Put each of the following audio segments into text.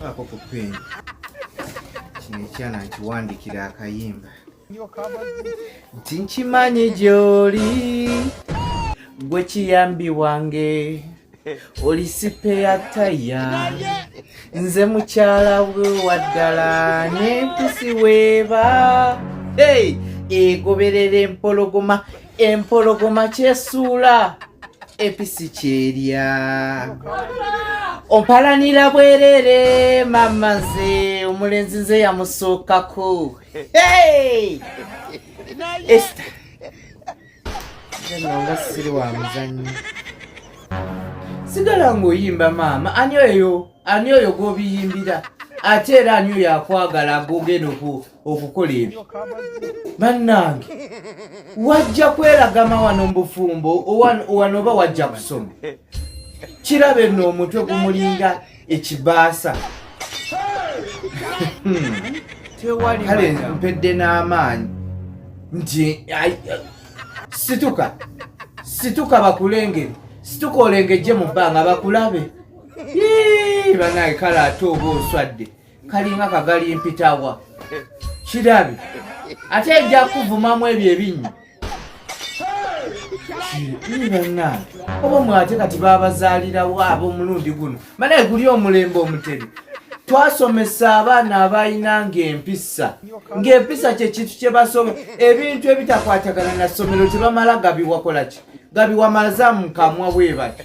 ako ku peni kino ekyana nkiwandikira akayimba nti nkimanyi gyoli gwe kiyambi wange oli sipe ya taya nze mukyala we waddala n'empisi weeba hey! egoberera empologoma empologoma kyesuula episi kyerya ompalanira bwerere mama nze omulenzi nze yamusookako esta nga siri wa muzanyo sigala ng'oyimba maama ani oyo ani oyo gwobiyimbira ate era ani oyo akwagala agogenoku okukola ebyo bannange wajja kwelagama wano mubufumbo wano oba wajja kusoma kiraba eno omutwe gumulinga ekibaasa hmm. kale mpedde n'amaanyi nti situka situka bakulengere situka olengejje mu bbanga bakulabe banaye kale ate oba oswadde kalinga kagali mpitawa kirabi ate ejja kuvumamu ebyo ebinnyo banange oba mwate kati babazaalirawo ab'omulundi guno manaye guli omulembe omutebe twasomesa abaana abalina ng'empisa ng'empisa kyekintu kye basoma ebintu ebitakwatagana na ssomero tebamala gabiwakolaki gabiwamaza mu kamwa bwe bati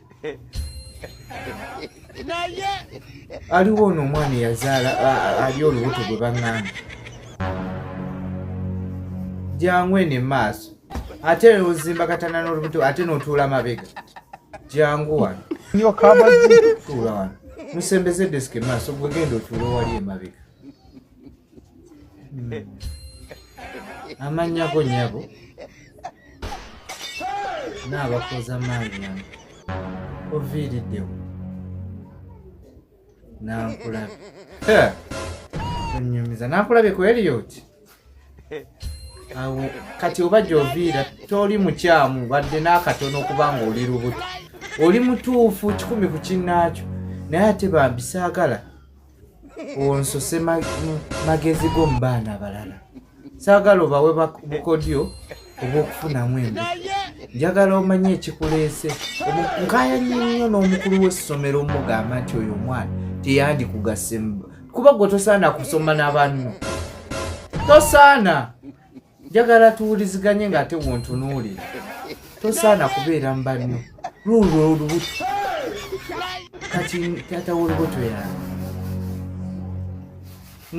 naye aliwo ono omwana eyazaala ali olubuto gwe baŋŋamba jangu eno emaaso ate ozimba katana n'olubuto ate n'otuula mabega jangu wano tuula wano musembeze desika emaaso gwegenda otuula owali emabega hmm. amanyako nyabo naabakoza maanyi nano oviiriddewo nankulabe onyumiza nankulabe ku eliot awo kati oba gyoviira toli mukyamu badde n'akatono okuba nga oli lubuto oli mutuufu kikumi ku kinnaakyo naye ate bambisaagala onsose magezi go mu baana abalala saagala obawe bukodyo obw'okufunamu embi njagala omanye ekikuleese nkaya nnyo n'omukulu w'essomero omugamba nti oyo omwana teyandikugase kuba gwe tosaana kusoma n'abanno tosaana njagala tuwuliziganye ng'ate wontunuulira tosaana kubeera mu banno luulwo olubuto kati taata w'olubuto yange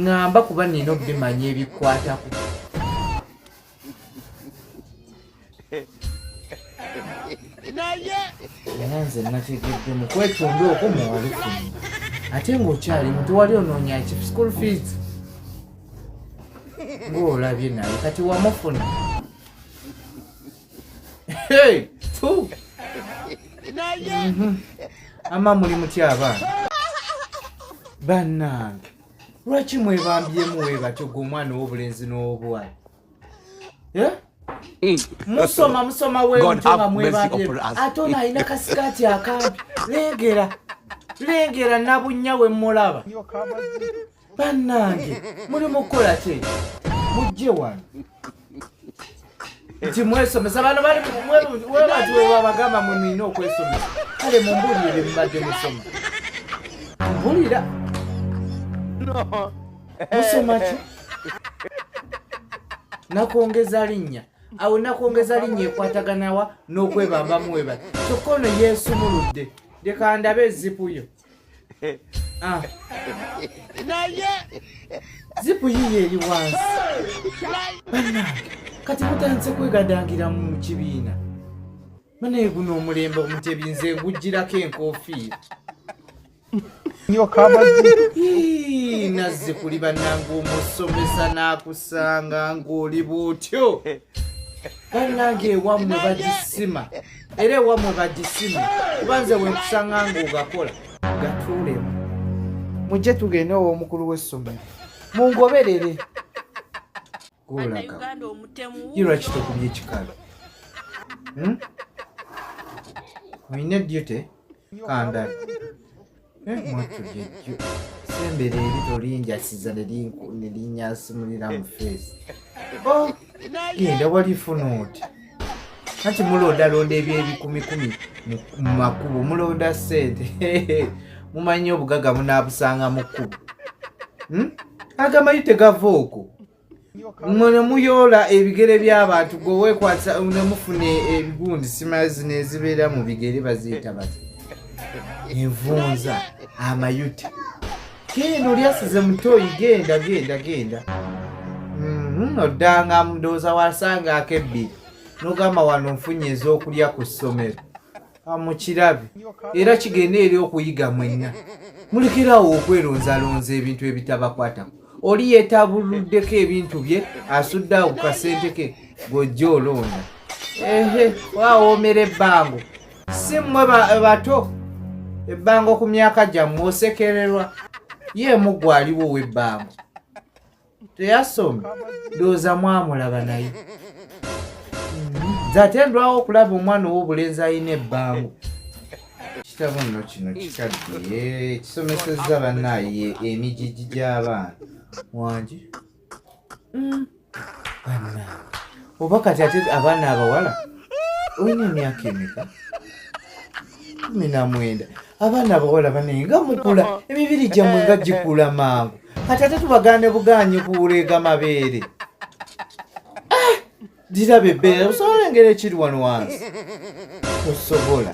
ŋŋamba kuba nina obimanya ebikwatako naye naye nze nategedde mu kwetonda okwo muwalufuni ate ng'okyali mutu wali onoonya ki school fees ng'olabye naye kati wamufuna mhm. ama muli mutya abaana bannange lwaki mwebambyemu webatyo gwe omwana ow'obulenzi n'obwala eh? mm. musoma musoma wemutonga mwebabye ate ono alina kasikaati akampi lengera lengera nabunya wemulaba bannange muli mukukola kye mujje wano nti mwesomesa bano bali webati webabagamba mwe mulina okwesomesa kale mumbulire bye mubadde musoma mbulira musoma ki nakwongeza linnya awo nakwongeza linnya ekwataganawa n'okwebambamu webali kyokka ono yeesumuludde leka ndabe ezipu yo ah. naye zipu yiyo eri wansi bana kati mutandise kwegadangira mu kibiina banaye guno omulembe omutebinze ngujjirako enkofiira nazze kuli banange omusomesa n'akusanga ng'oli bwotyo banange ewammwe bagisima era ewammwe bagisima kuba nze wenkusanga ng'ogakola gatuulemu mujje tugende ow'omukulu w'essomero mungoberere golagairwaki tokubye ekikalo hmm? olina duty kanda mwattu jejjo sembera eri tolinjasiza nelinyasimulira mu feesi oh, genda walifuna oti kati mulondalonda ebyo ebikumikumi mu makubo mulonda sente mumanyi obugaga munabusanga mu kkubo hmm? agamanyi tegava okwo mune muyoola ebigere by'abantu gwe weekwasa ne mufuna ebigundi simazi nezibeera mu bigere baziyita bati envunza amayute kiino lyasize mutoyi genda genda genda mhm, oddanga mudooza wasanga akebbiri nogamba wano nfunye ez'okulya ku ssomero amukirabe era kigende eri okuyiga mwenna mulekerawo okweronzalonza ebintu ebitabakwatako oli yetabuluddeko ebintu bye asudde awo ku kasente ke gojja olonda ehe wawoomera ebbango si mmwe bato ebbango ku myaka gyammwe osekererwa ye mugwaliwo w'ebbango teyasoma ndowooza mwamulaba naye nze ate ndwawo okulaba omwana ow'obulenzi alina ebbango kitabo nno kino kikadde kisomesezza bannaaye emigigi gy'abaana wangi mm. banna oba kati ate abaana abawala olina emyaka emeka kumi na mwenda abaana abawala banenye nga mukula emibiri gyammwe nga gikula mangu kati ate tubagaane bugaanyi kuwuleega mabeere ah! diraba ebbeera osobola engeri ekiri wano wansi osobola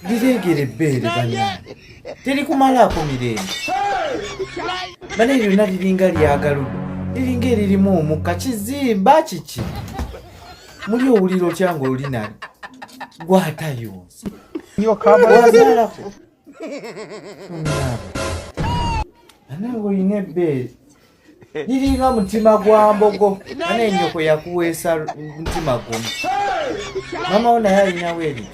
lireegera ebbeere banange terikumalaako mirembe banaye lyonna liringa lyagaludo liringa eririmu omukka kizimba kiki muli owulira otya nga oli nali gwatayonsa wazalako anawe olina ebbeere liringa mutima gwa mbogo ana enyoko yakuweesa mutima gumu mama wo naye alinawo eri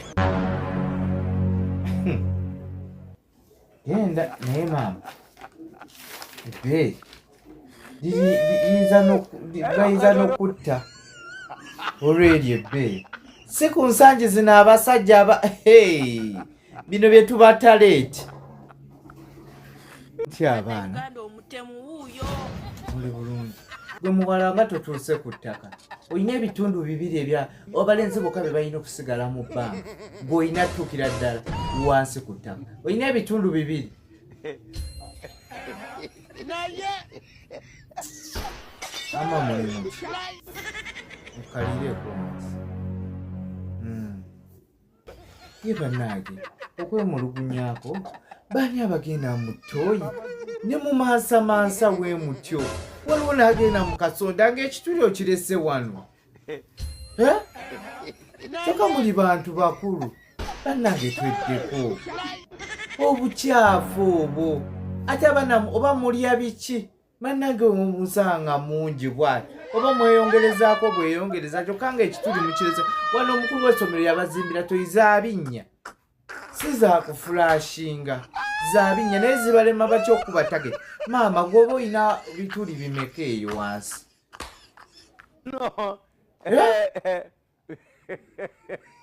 genda hmm. naye maama ebe bayinza n'okutta olweri ebbeeyi si ku nsangi zino abasajja aba bino bye tubatala eki ti abaana muli bulungi gwe muwala nga totuuse ku ttaka olina ebitundu bibiri ebya abalenzi boka be balina okusigala mu bbanga gwe olina tuukira ddala wansi ku ttaka olina ebitundu bibiri ama mulimu okalireeko ye banaage okwemulugunyaako baani abagenda mu tooyi ne mu mansamansa we mutyo waliwo n'agenda mu kasonda ng'ekituli okirese wano kyokka muli bantu bakulu bannange tweddeko obukyafu obwo ate abanamu oba mulya biki bannange musanga mungi bwati oba mweyongerezaako bweyongereza kyokka nga ekituli mukireza wano omukulu w'essomero yabazimbira toyi zabinnya si zakufulashinga zabinnya naye zibalema batya okuba tage maama gwoba olina bituli bimeka eyo wansi eh?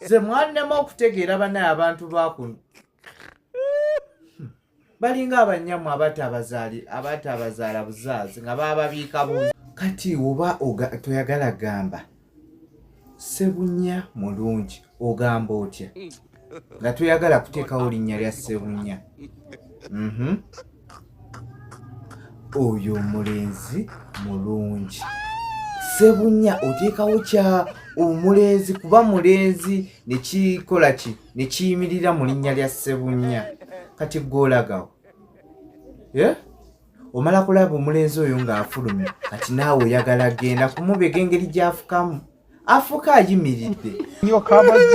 ze mwannema okutegeera bana abantu bakuno hmm. balinga abanyamu abatabazaala buzaazi nga bababiika bu kati oba toyagala gamba sebunya mulungi ogamba otya hmm. nga toyagala kuteekawo linnya lya ssebunya mhm. oyo omulenzi mulungi ssebunya oteekawo kya omulenzi kuba mulenzi nekikola ki nekiyimirira mu linnya lya ssebunya kati gwolagawo eh? omala kulaba omulenzi oyo ng'afulumye kati naawe oyagala genda kumubega engeri gyafukamu afuka ayimiridde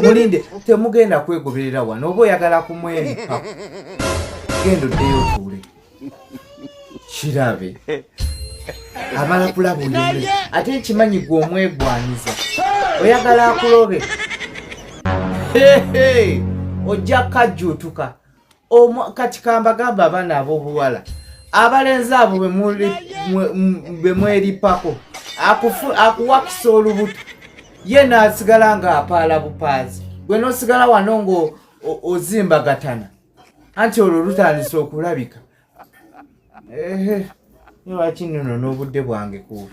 mulinde temugenda kwegoberera wano oba oyagala kumwenika genda oddeyo otuule kirabe amala kulaba oyomule ate nkimanyi gwe omwegwanyiza oyagala akulobe ojja kajjuutuka kati kambagamba abaana abobuwala abalenzi abo bemweripako akuwakisa olubuto ye nasigala nga apaala bupaazi gwe nosigala wano nga ozimbagatana anti olwo lutandisa okulabika lwaki nono n'obudde bwange ku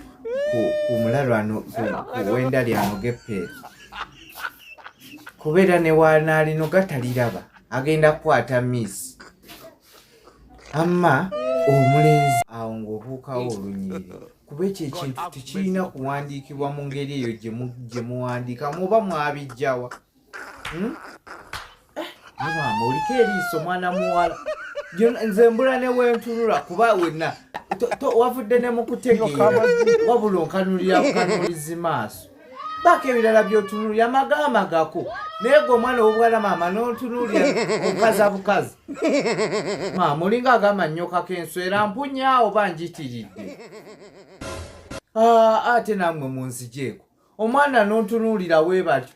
mulalwano kuwenda lyano gepeeri kubeera newanaalino gataliraba agenda kukwata miss amma omulenzi awo ng'obuukawo olunyiriri kuba ekyo ekintu tekirina kuwandiikibwa mu ngeri eyo gye muwandiikamu oba mwabijjawa hmm? eh, mama oliko eriiso mwana muwala nze mbula newentunula kuba wena wavudde ne mukutegeera wabula onkanulira bukanulizi maaso baako ebirala byotunulira magama gako naye gwe omwana owobwala maama nontunulira obukaza bukazi maama olinga agamba nnyokako enswera mpunyaawo banjitiridde ah, ate namwe munzijeeko omwana nontunuulira webatyo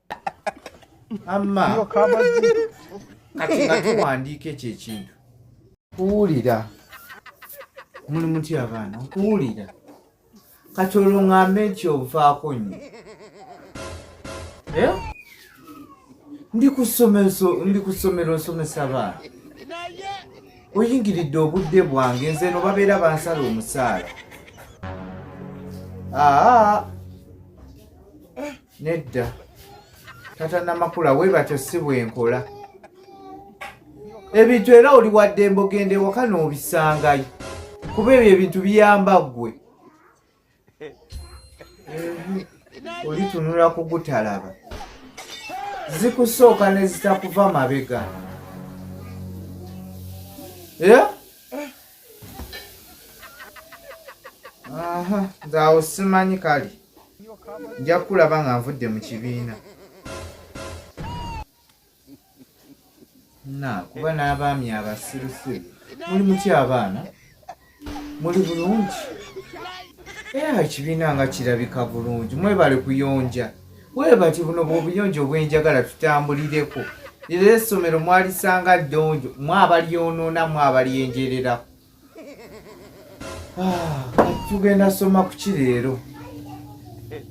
amma kati nga tuwandiika ekyo ekintu kuwulira muli mutya abaana nkuwulira kati olwo ŋŋambe nti ovaako nnyo eh? ndi ku ssomero nsomesa abaana oyingiridde obudde bwange nze no babeera bansala omusaala aa ah, ah. nedda tata namakula we batyo si bwenkola ebintu era oli wadde embogenda ewaka n'obisangayo kuba ebyo ebintu biyamba ggwe olitunula kugutalaba zikusooka nezitakuva mabega era yeah? aha nze awo simanyi kale nja kukulaba nga nvudde mu kibiina na kuba n'abaami abasirusiru muli muty abaana muli bulungi era ekibiina nga kirabika bulungi mwebale kuyonja Bwe bati buno bw'obuyonjo obwenjagala tutambulireko. Lero essomero mwalisanga ddonjo, mwe abalyonoona, mwe abalyenjerera. Ah, tugenda soma ku ki leero?